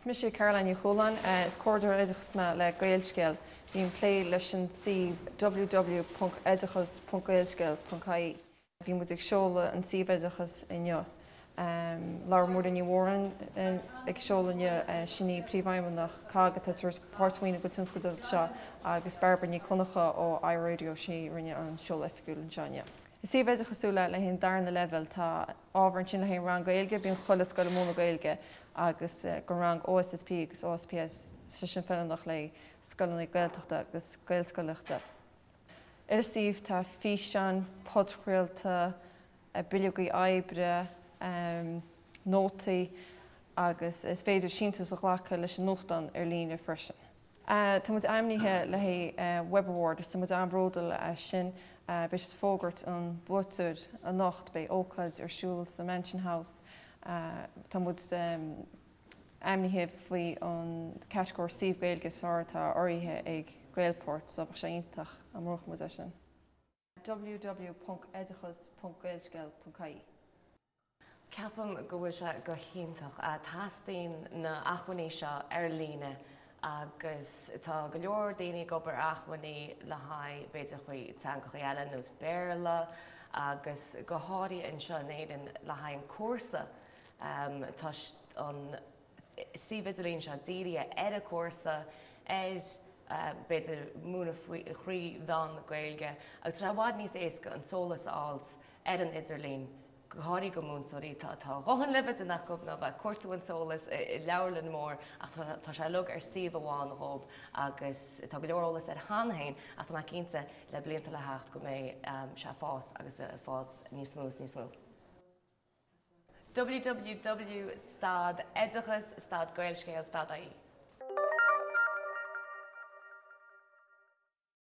Is mise Caroline Ní Chualáin. Is Comhairleoir Oideachais mé le Gaelscéal. Bím ag plé leis an suíomh www.oideachas.gaelscéal.ie. Bhí muid ag seoladh an suíomh oideachais inniu. Labhair Muireann Ní Mhóráin ag an seoladh inniu, sin í Príomhfheidhmeannach COGG atá ag tabhairt páirtmhaoiniú don tionscadal seo agus Barbara Nic Dhonnacha ó iRadio, sí a rinne an seoladh oifigiúil anseo inniu. Is suíomh oideachasúil é le haghaidh an darna leibhéal, tá ábhar ansin le haghaidh an rang Gaeilge, bíonn chuile scoil ag múineadh Gaeilge agus don rang OSSP agus OSPS, sé sin feiliúnach le scoileanna Gaeltachta agus Gaelscolaíochta. Ar an suíomh tá físeáin, podchraolta, bileogaí oibre, nótaí agus is féidir síntiús a ghlacadh leis an nuachtán ar líne freisin. Tá muid ainmnithe le haghaidh Web Award agus tá muid an-bhródúil as sin. Beidh siad ag fógairt an bhuaiteoir anocht. Beidh ócáid ar siúl sa Mansion House. Tá muid ainmnithe faoin gcatagóir Suíomh Gaeilge is Fearr atá urraithe ag Gaelport so bheadh sé iontach dá mbuafadh muid é sin. www.oideachas.gaelscéal.ie. Ceapaim go bhfuil sé go hiontach. Teastaíonn na hacmhainní seo ar líne agus tá go leor daoine ag obair ar acmhainní le haghaidh b'fhéidir thrí teangachaí eile nó as Béarla agus go háirithe anseo in Éirinn le haghaidh an cúrsa tá an suíomh idirlín seo dírithe ar an gcúrsa, ar, b'fhéidir, múineadh thrí mheán na Gaeilge agus tá sé i bhfad níos éasca an t-eolas a fháilt ar an idirlíon, go háirithe do mhúinteoirí, tá a dhóthain le bheith ag déanamh acu ná bheith ag cuartú an eolais i leabharlann mór ach tá, tá sé uilig ar suíomh amháin dhób agus tá go leor eolas air cheana féin ach tá mé cinnte le blianta le theacht go mbeidh sé ag fás agus ag fás níos mó is níos mó. www stad oideachas stad gaelscéal stad ie.